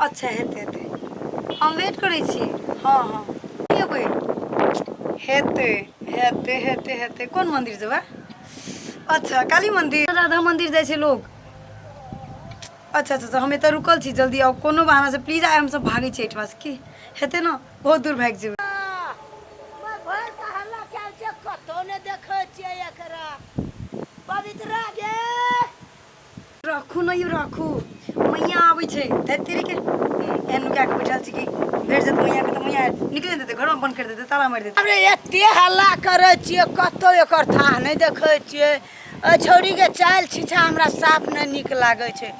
अच्छा हेतै हेतै हम वेट करै छी हँ हँ एबै हेतै हेतै हेतै हेतै कोन मन्दिर जेबै अच्छा काली मन्दिर राधा मन्दिर जाइ छै लोक अच्छा अच्छा हम एतऽ रुकल छी जल्दी आउ कोनो बहानासँ प्लीज आइ हमसभ भागै छी एहिठामसँ की हेतै ने बहुत दूर भागि जेबै कतहु नहि देखै छियै एकरा पवित्रा गे रखू ने यौ रखू मैया आबै छै धैत तेरी के एहन नुका के बैठल छी कि भेट जेत मैया के तऽ मैया निकले देतै घर में बंद कर देतै ताला मारि देतै अरे एते हल्ला करै छियै कतौ एकर थाह नहि देखै छियै एहि छौड़ीके चालि छिछा हमरा साफ नहि नीक लागै छै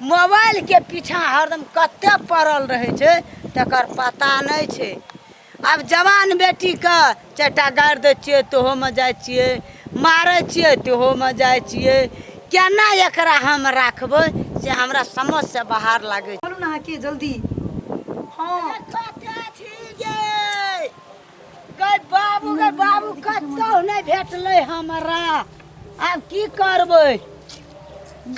मोबाइलके पीछा हरदम कते पड़ल रहै छै तकर पता नहि छै आब जवान बेटीके चारिटा गारि दै छियै तोहोमे जाइ छियै मारै छियै तोहोमे जाइ छियै केना एकरा हम राखबै से हमरा समझसँ बाहर लागै छै ना के जल्दी हां कतऽ छी ये गै बाबू गै बाबू कतौ नै भेटलै हमरा आब की करबै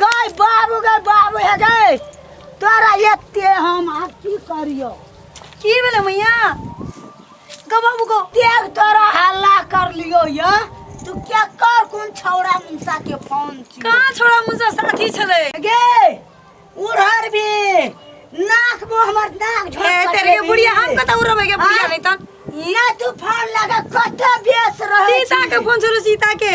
गै बाबू गै बाबू हे गै तोरा एते हम आब की करियौ की भेलै मैया गो बाबू गो देख तोरा हल्ला कर लियो या तू क्या कर कौन छौड़ा मुंसा के फोन छी कहाँ छोड़ा मुझे साथी छले गे उड़हर भी नाक में हमर नाक झोंक ए तेरे के बुढ़िया हम कत उड़ब के बुढ़िया हाँ? नहीं तन ना तू फोन लगा कत बेस रहे सीता के छी। फोन छलो सीता के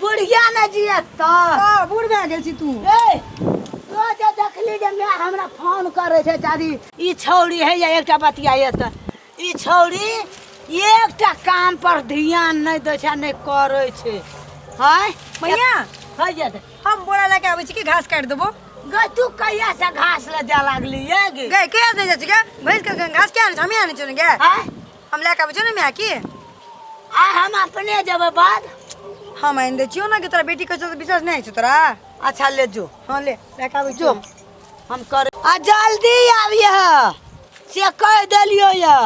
बुढ़िया ने जियत त आ, बूढ़ भए गेल छी तू ए तो जे देखली जे मैं हमरा फोन करे छै चारी ई छौरी है या एकटा बतिया ये त ई छौरी एकटा काम पर ध्यान नहीं दै छै नहीं करे छै हाय मैया है ये त हम बोरा लए के आबै छी कि घास काटि देबो गै तू कहिया से घास ले जा लागली ये गे गए के दे जाइ छी गे भैंस के घास किया आनै छी हमी आनै छी ने गे हाय हम लए कऽ आबै छियौ ने माय की आ हम अपने जेबै बाद हम आनि दै छियौ ने कि तोरा बेटी कहै विश्वास नहि होइ छौ तोरा अच्छा ले जो हँ ले लए कऽ आबै जो हम कर आ जल्दी आबिए से कहि देलियो ये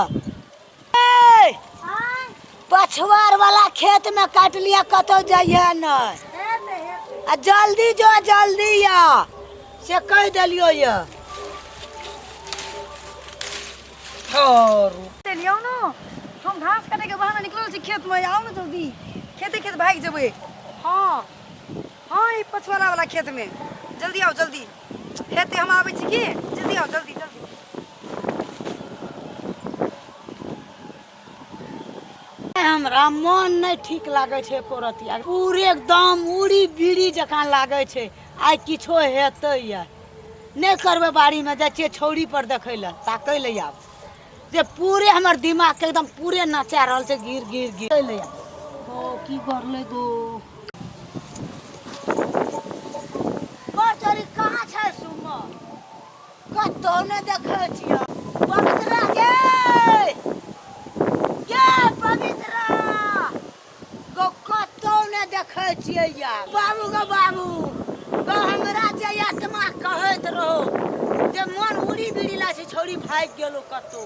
पछवार वाला खेत में काट लिया कतौ जाइए नहीं आ जल्दी जो जल्दी या से कहि देलियो ये छोरू चलिए आओ ना हम घास काटे के बहाना निकलल छी खेत में आओ ना जल्दी खेते खेत भाग जेबे हाँ हाँ ई पछुआला वाला खेत में जल्दी आओ जल्दी हेते हम आबै छी की जल्दी आओ जल्दी जल्दी हमरा मन नहि ठीक लागै छै एको रती आ पूरे एकदम उड़ी बीड़ी जकाँ लागै छै आइ किछो हेतै या नहि करबै बाड़ीमे जाइ छियै छौड़ीपर देखै लए ताकै लए आब जे पूरे हमर दिमागके एकदम पूरे नचा रहल छै गिर गिर गिर ताकै लए आब ओ की करले गो बड़ चोरी कहाँ छै सुमन कतौ ने देखै छियै पवित्रा गे गे पवित्रा गो कतौ ने देखै छियै या बाबू गो बाबू गो हमरा जे आत्मा कहैत रहो जे मन उड़ी बिड़ी ला छै छौड़ी भागि गेलो कतौ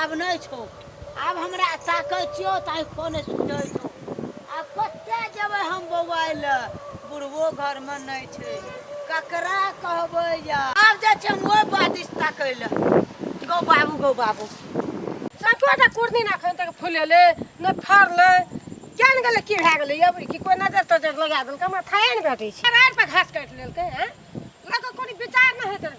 आब नहि छौ आब हमरा ताकै छियौ तऽ आँखिओ नहि सुझै छौ आब कतय जेबै हम बौआइ लए बुढ़बो घरमे नहि छै ककरा कहबै या आब जाइ छियै हम ओहि बादिश ताकै लए गौ बाबू गौ बाबू सभटा कुर्दिन एखन तक फुलेलै नहि फड़लै किया ने गेलै की भए गेलै अबरी की कोइ नजर तजर लगा देलकै हमरा थाहे ने भेटै छै घास काटि लेलकै हँ लऽ कऽ कोनो विचार नहि होइत रहै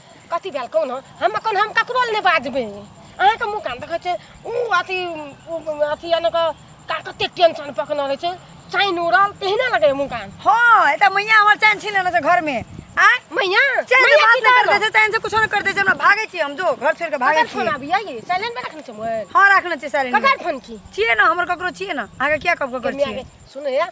कथी भेल कहू ने हम एखन हम ककरो लए नहि बाजबै अहाँके मुँह कान देखै छै ओ अथी अथी यानि कऽ कते टेंशन पकड़ने रहै छै चाइन उड़ल तेहने लगैए मुँह कान हँ एतऽ मैया हमर चाइन छीन लेने छै घरमे आय मैया चैन से बात नहीं करते चैन से कुछ नहीं करते हमरा भागे छी हम जो घर छोड़ के भागे छी फोन आबी आई साइलेंट में रखने छी मोबाइल हां रखने छी साइलेंट ककर फोन की छिए ना हमर ककरो छिए ना आगे क्या कब ककर छिए सुने यार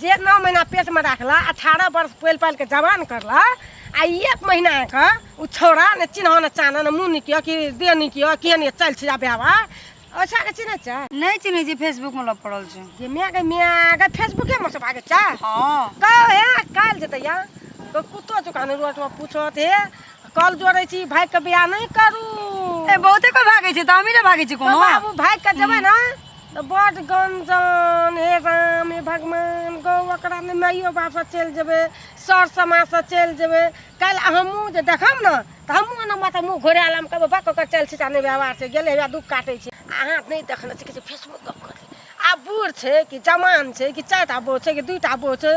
जे नओ महीना पेटमे राखला अठारह वर्ष पोलि पालि कऽ जवान करला आ एक महीनाके ओ छौड़ा ने चिन्ह ने चान ने मुँह निकियो कि देह निकियो के नहि चल छै आ व्यवहार अच्छा के चिन्ह छै नहि चिन्ह छै फेसबुक मे लग पड़ल छै जे माय के माय अगर फेसबुके मे से भागे छै हाँ कहो हे काल जेतै या तो कुत्तो दुकान रोड मे पूछो थे कल जोड़े छी भाई के बियाह नहीं करू ए बहुते कोई भागे छै त हमी ने भागे छी कोनो बाबू भाई के जबे ना तऽ बड्ड गञ्जन हे राम हे भगवान गौ ओकरा नहि माइयो बापसँ चलि जेबै सर समाजसँ चलि जेबै काल्हि हमहूँ जे देखब ने तऽ हमहूँ ओना माथा मुँह घोरा लेब कहबै बक ओकर चलि छिटा नहि व्यवहार छै गेलै हौआ दुःख काटै छै अहाँ नहि देखने छी कि फेसबुक गप करतै आब बूढ़ छै कि जवान छै कि चारि टा बौह छै कि दू टा बौह छै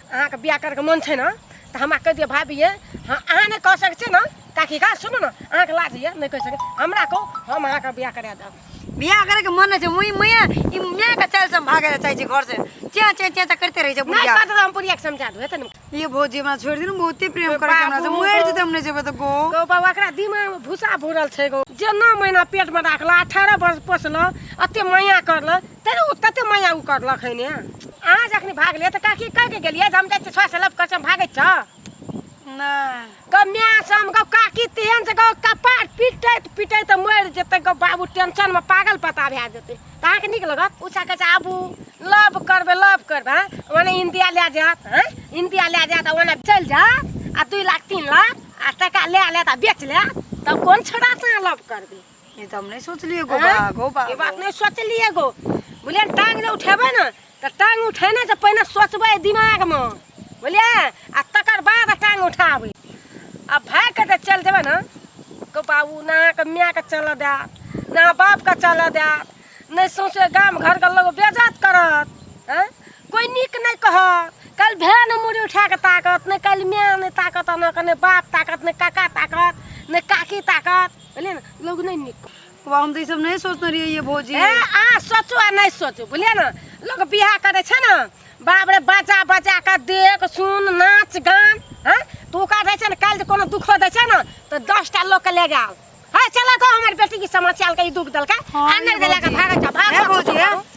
अहाँके बियाह करके मन छै ने तऽ हमरा कहि दिअ भाभी ये हँ अहाँ नहि कह सकै छियै ने काकी का सुनू ने अहाँके लाज होइए नहि कहि सकै हमरा कहू हम अहाँके बियाह करा देब बियाह करे के मन नै छै मुई मैया ई मैया के चल सम भागे चाहे छै घर से चे चे चे चे करते रहे छै नहि बुढ़िया करते तऽ हम पूरी समझा देबै तऽ ने ये भौजी हमरा छोड़ दिन बहुते प्रेम करे छै हमरा से बाबू, मुएर जे बाबू। हम नै जेबै त गो गौ बाबा एकरा दिमागमे भूसा भूरल छै गौ जेना महिना पेटमे राखलक अठारह वर्ष पोसलक एते माया करलक तेरे ओ कते माया उ करलक है ने अहाँ जखनी भागले तऽ काकी कह के गेलिए जे हम जाइ छी छह से लब कर हम भागे छ नहि गौ माय सम गौ काकी तेहन से गौ कपार पिटैत पिटैत मरि जेतै गौ बाबू टेंशन में पागल पता भए जेतै तऽ अहाँ के नीक लगत उछा के आबू लव करबे लव करबे ओने इंडिया ले जात हैं इंडिया ले जात ओने चल जात आ दू लाख तीन लाख आ टका ले ले आ बेच ले तब कोन छोड़ा से लव करबे ई तऽ हम नहि सोचलियै गो बा आँय? गो बा ई बात नहि सोचलियै गो बुझलियै ने, टांग जे उठेबै ने तऽ टांग उठेने से पहिने सोचबै दिमागमे बुझलियै आ तकर बाद टांग उठाबै आ भागि कऽ जे चलि जेबै ने गो बाबू ने अहाँके मायके चलऽ देत ने अहाँ बापके चलऽ देत नहि सौंसे गाम घरके लोक बेजत करत हँ कोइ नीक नहि कहत काल्हि भाय ने मुड़ी उठा कऽ ताकत नहि काल्हि माय नहि ताकत अहाँके नहि बाप ताकत नहि काका ताकत नहि काकी ताकत बुझलियै ने लोग नहि नीक बाबा हम तऽ ई सब नहि सोचने रहियै ये भौजी ए अहाँ सोचू आ नहि सोचू बुझलियै ने लोग बियाह करै छै ने बाप रे बजा बजा कऽ देख सुन नाच गान हँ तऽ ओकरा रहै छै ने काल्हि जे कोनो दुखो दै छै ने तऽ दस टा लोकके ले जाओ हँ चलऽ गाँव हमर बेटीके समस्या लकै ई दुख देलकै हँ, आ नहि ये देलकै भौजी। भागै छै ए भागै भौजी, ए। छै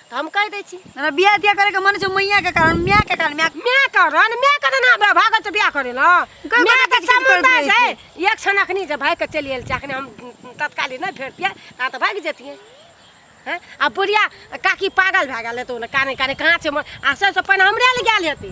तऽ हम कहि दै छी हमरा बियाह तियाह करैके मन छै मैयाके कारण मायके कारण माय माय कारण माय कारण हमरा भागल छै बियाह करै लए कोइ माय बात के किछु करैत सम्बन्ध रहै छै एक क्षण अखनी जे भागि कऽ चलि गेल छै अखनी हम तत्काली नहि भेटतियै ता तऽ भागि जतियै हैं? आ बुढ़िया काकी पागल भए गेल हेतौ ने काने काने कहाँ छै मोन आ सबसँ पहिने हमरे लग गेल हेतै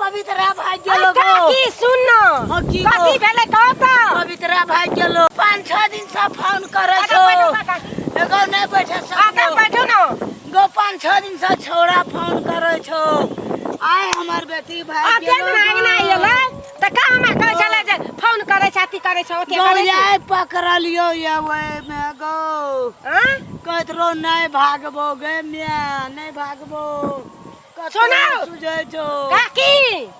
पवित्रा भाग गेलो काकी सुन न हां की कथी भेले कह त पवित्रा भाग गेलो पांच छह दिन से फोन करे छो एगो नै बैठे छ आगा बैठो न गो पांच छह दिन से छोरा फोन करे छो आय हमर बेटी भाग गेलो आगे ना आइले तऽ का हमरा कहै छले जे फोन करै छै अथी करै छै ओते करै छै गौरिया पकड़लियो ये ओहिमे गौ आँय? कहैत रहो नहि भागबो गे मिया नहि भागबो कतहु सुनौ। नहि सुझै छौ काकी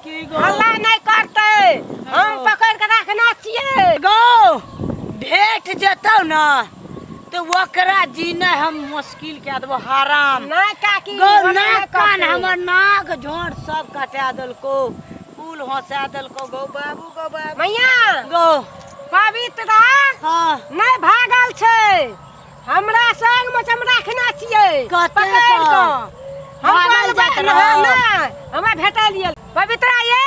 की गौ हल्ला नहि करतै हम गौ। पकड़ के रखना छियै गौ भेट जेतौ ने तऽ ओकरा जीनाइ हम मुश्किल कए देबो हराम नहि काकी गौ ओना नहि नाक कान करतै। हमर नाक झोंट सब कटा देलको फूल हँसा देलको गौ बाबू गौ बाबू मैया गौ पवित्रा हाँ नहीं भागल छे हमरा संग में हम रखना छिए कते पकड़ कऽ? कऽ। हम भागल बोलबै जाइत ना, रहौ। ना, हमरा भेटा लियल पवित्रा ये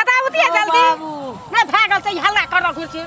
अदा उतिया गौ जल्दी बाबू नहीं भागल छै हल्ला कर रहल छी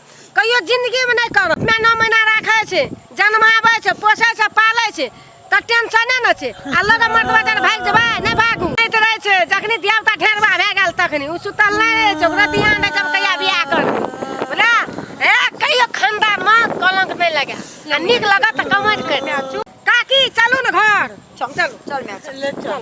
कहियो जिंदगीमे नहि करब अपना नौ महीना राखै छै जन्माबै छै पोसै छै पालै छै तऽ टेंशने ने छै आ लगे मर्द बदन भागि जेबै नहि भागू नहि तऽ रहै छै जखनी देवता ढेरबा भए गेल तखनी ओ सुतल नहि रहै छै ओकरा बियाह नहि जब कहिया बियाह करतै बुझला हे कहियो खानदानमे कलंक नहि लगे आ नीक लगत तऽ कमैत करि दे काकी चलू ने घर चल चल चल चल